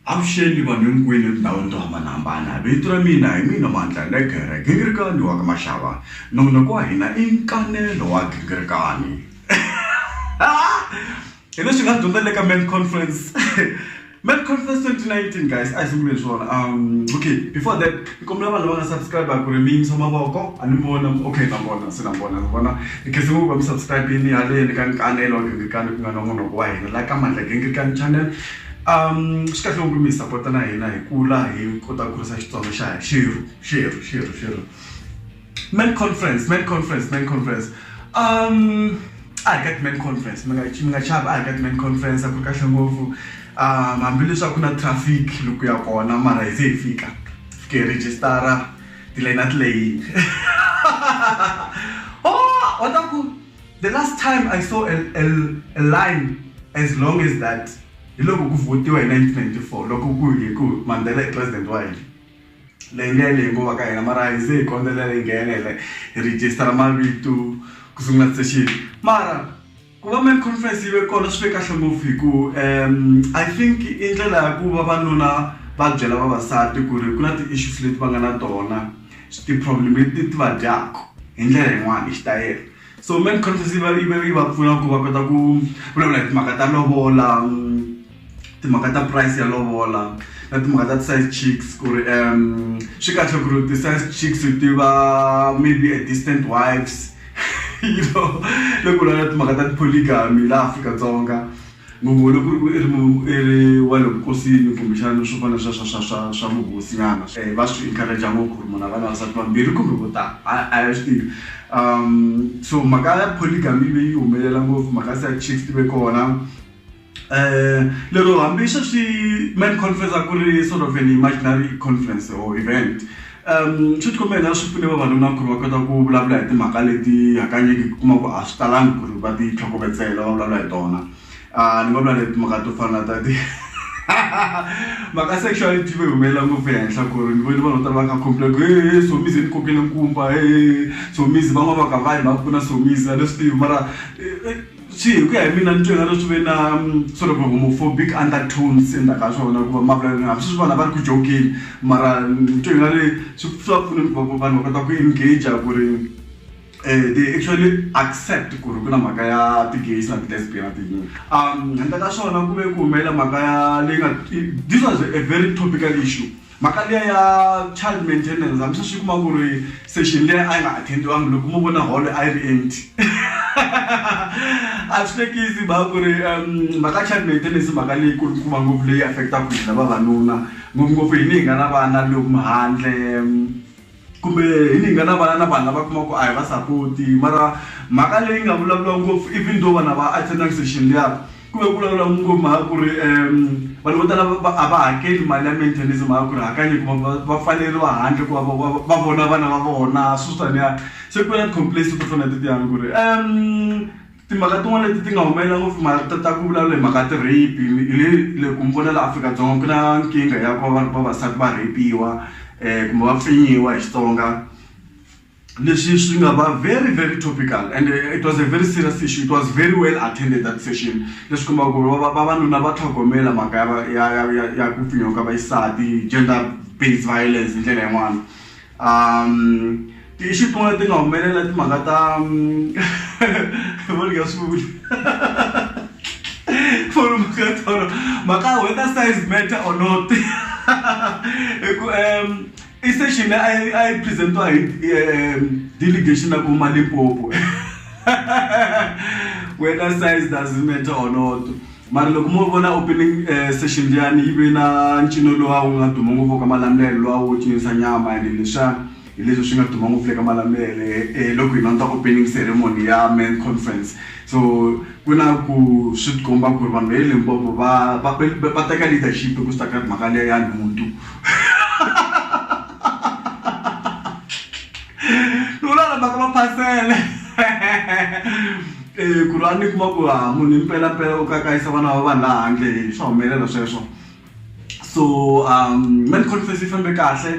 avuxeni vanhu hinkwini etindhawini to hambanahambana vito ra mina hi mina mandla legere gingirikani wa ka maxava nongonoko wa hina i nkanelo wa gingirikani Hi leswi hi nga swi dyondza ni le ka men's conference men's conference twenty nineteen guys a hi sunguleni swona um okay before that ni kombela vanhu lava nga subscribe ku ri mi yimisa mavoko a ni vona okay na vona se na vona ni vona ni khensa ngopfu va mi subscribe-ini haleni ka nkanelo wa gingirikani ku nga na n'wanoko wa hina la ka mandla gingirikani channel um swi kahle ngopfu mi hi sapota na hina hi kula hi kota ku kurisa xitsonga xa xerhu xerhu xerhu xerhu. men conference men conference men conference um a hi ka ti-men conference mi nga mi nga chavi a hi ka ti-men conference a ku ri kahle ngopfu um hambileswi a ku na traffic loko ya kona mara hi ze hi fika fike hi rejistara tilayini a ti leyini o wa ta ku the last time I saw a a a line as long as that hi loko ku vote-iwa hi nineteen ninety four loko ku hi ku Mandela i president wa hina. leyinene hikuva ka hina mara hi se hi kombela hi nghena hi hi register mavito ku sungula session mara ku va main conference yi ve kona swi ve kahle ngopfu hi ku um i think i ndlela ya ku vavanuna va byela vavasati ku ri ku na ti-issues leti va nga na tona ti-problem leti ti va dyaku hi ndlela yin'wani hi xitayele so main conference yi va yi va yi va pfuna ku va kota ku vulavula hi timhaka ta lovola. timhaka ta price ya lovola na timhaka ta ti-side chicks ku ri swi kahle ku ri ti-side chicks ti va maybe a distant wives you know loko u lava timhaka ta ti-polygamy laha Afrika-Dzonga ngopfu loko ku ri i ri wa le vukosini kumbexana swo fana na sweswo swa swa swa vuhosinyana va swi encourage-a ngopfu ku ri munhu a va na vasati vambirhi kumbe vo tala a hi swi tivi so mhaka ya polygamy yi ve yi humelela ngopfu mhaka ya side chicks ti ve kona. lero hambi sweswi Met conference a ku ri sort of an imaginary conference or event um swi tikomba hina swi pfune vavanuna ku ri va kota ku vulavula hi timhaka leti hakanyingi ku kuma ku a swi talangi ku ri va ti tlhokovetsela va vulavula hi tona a ni nga vula ni timhaka to fana na ta ti mhaka sexuality yi humelela ngopfu ehenhla ku ri ni voni vanhu vo tala va kha complain ku hehe Somizi i ni kokele nkumba hehe Somizi van'wana va ka va yi mhaka ku na Somizi a ni swi tivi mara . Swi hi ku ya hi mina ni twe nga ri swi ve na sort of homophobic undertones endzhaku ka swona ku va ma vulavula hambi sweswi vanhu a va ri ku jokeni mara ni twe nga ri swi swa pfuna ku va vanhu va kota ku engage ku ri they actually accept ku ri ku na mhaka ya ti-gays na ti-lesbian na ti-gay handle ka swona ku ve ku humelela mhaka ya leyi nga this was a very topical issue. Mhaka liya ya child maintenance hambi sweswi u kuma ku ri session liya a yi nga attend-iwanga loko mo vona holo a yi ri empty a swi hlekisi mhaka ku ri mhaka ya child maintenance i mhaka leyi kulukumba ngopfu leyi affect-aka hina vavanuna ngopfungopfu hina hi nga na vana lomu handle. kumbe hi ni nga na vana na vanhu lava kuma ku a hi va sapoti mara mhaka leyi nga vulavuriwa ngopfu even though vanhu a va attendanga session liya ku ve ku vulavuriwa ngopfu mhaka ku ri um vanhu vo tala va a va hakeli mali ya maintenance mhaka ku ri hakanye ku va va pfaleriwa handle ku va va va vona vana va vona swilo swo taniya se ku na ti-complains to fana na tetiyani ku ri . Timhaka tin'wana leti ti nga humelela ngopfu i mhaka ta ta ku vulavula hi mhaka ya ti-rape hi le le ku ni vona laha Afrika-Dzonga ku na nkingha ya ku va vavasati va rheyipiwa kumbe va pfinyiwa hi Xitsonga leswi swi nga va very very topical and it was a very serious issue it was very well attended that session leswi kombaka ku ri vavanuna va tlhogomela mhaka ya ya ya ya ya ku pfinyiwa ka vaxisati gender based violence hi ndlela yin'wani. um ti-issue tin'wana leti nga humelela timhaka ta voni nga swi vuli foni mhaka tolo mhaka whether size matter or not hi ku um i session leyi a yi presentiwa hi delegation ya ku ma limpopo whether size doesn't matter or not Mara loko mo vona opening eh, session liyani yi ve na ncino lowa wu nga duma ngopfu ka malamulele lowa wu cinisa nyama and leswiya hi leswi swi nga duma ngopfu le ka malamulele eh, loko hi landza opening ceremony ya men conference so ku na ku swi tikomba ku ri vanhu va le limpopo va va va- va teka leadership hi ku swi ta ka mhaka liya ya nhundu lulala mhaka maphasele eh, ku ri a ni kuma ku ha ah, munhu impelampela u kakayisa vana va vanhu laha handle swa humelela sweswo so um man conference yi fambe kahle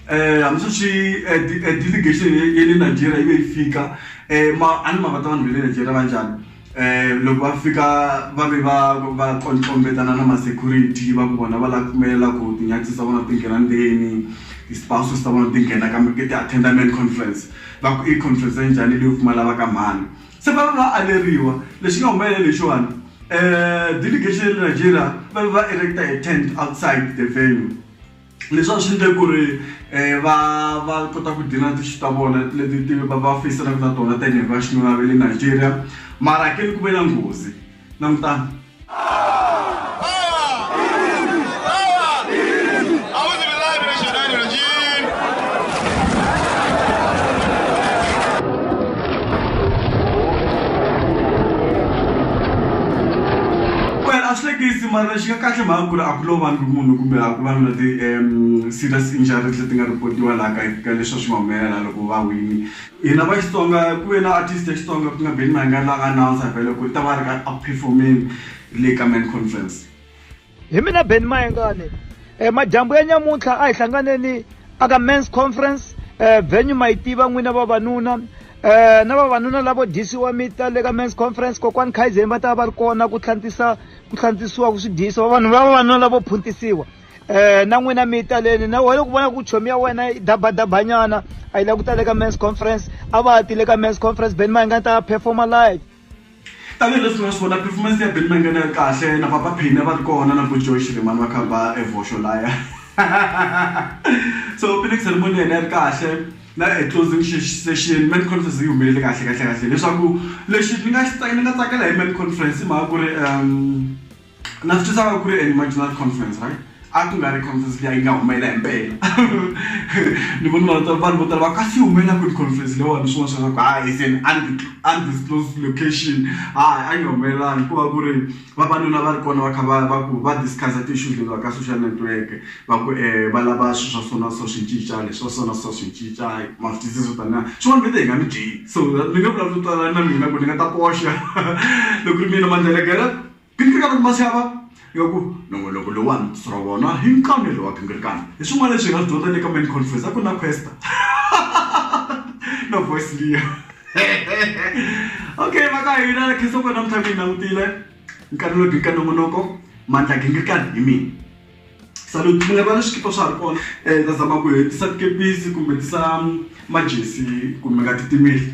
eh hambi sweswi eh, eh, delegation ya le nigeria yi ve yi fika um a ni mavata vanhu va le nigeria va njhani Eh, loko va fika va ve va va tlombetana na ma-security va ku vona va lava ku pfumelela ku tinyathi ta vona ti nghena ndzeni ti-spouses ta vona ti nghena ka ke ti attenda man conference va ku i conference ya njhani leyo pfumala va ka mhani se va va va aleriwa lexi nga humelela lexiwani um delegation ya le nigeria va va erecta a tent outside the venue leswi a swi endle ku ri um va va kota ku deal-a na ti-issue ta vona leti ti va va feyisanaku na tona tanihi va xinuna ve le Nigeria mara ke ni ku ve na nghozi langutani Mara lexi nga kahle mhaka ku ri a ku lovangi munhu kumbe a ku va na ti serious injuries leti nga report-iwa laha ka ka leswi a swi nga humelela laha loko va wini hina va Xitsonga ku ve na artist ya Xitsonga ku nga Benny Mayengani la nga announcer vhele ku ri u ta va a ri ka a ku perform-eni le ka main conference. Hi mina Benny Mayengani madyambu ya nyamuntlha a hi hlanganeni a ka men's conference venue ma yi tiva n'wina vavanuna. Um na vavanuna lavo dyisiwa mi ta le ka men's conference kokwani khaizeni va ta va va ri kona ku tlhantisa ku tlhantisiwa ku swi dyisa vavanhu va vavanuna lavo phuntisiwa um na n'wina mi ta leni na wena ku vona ku chomi ya wena i dabadabanyana a yi la ku ta le ka men's conference a va ti le ka men's conference beni ma hi nga ta performa live Tanihi leswi mi nga swi vona performance ya Benny Mayengani a yi ri kahle na Papa Penny a va ri kona na Boy Joy Xirimani va kha ba e vhoxo laya so opening ceremony ya hina yi ri kahle na e closing session main conference yi humelele kahle kahle kahle leswaku lexi ni nga ni nga tsakela hi main conference i mhaka ku ri . na swi twisaka ku ri an imaginary conference right a ku nga ri conference leyi a yi nga humelela hi mpela ni vona vanhu tala vanhu vo tala va ka swi humelela ku ri conference leyiwani swin'wana swa ku hayi is an undisclosed location hayi a yi nga humelelanga ku va ku ri vavanuna va ri kona va kha va va ku va discuss-a ti-issues letiwa ka social network va ku va lava swilo swa so na so swi cinca leswi swa so na so swi cinca ma swi twisisa swo taniya swin'wana va te hi nga mi dyi so ni nge vulavuli twanana na mina ku ni nga ta koxa loko ku ri mina Mandela Girl. Gingirikana kumbe machava ya ku nongonoko lowuwani ku tsutsula wona hi nkanelo wa gingirikana hi swin'wana leswi hi nga swi dyondza le ka main conference a ku ri na Kwesta na voice liya okay va ka hina na khensa ku namuntlha mi yi langutile nkanelo wa gingirikana nongonoko mandla ya gingirikana hi mina salute mi nga rivali swikipa swa ha ri kona hi ta zama ku hetisa tikepisi kumbe tisa majesi kumbe nga titimeli.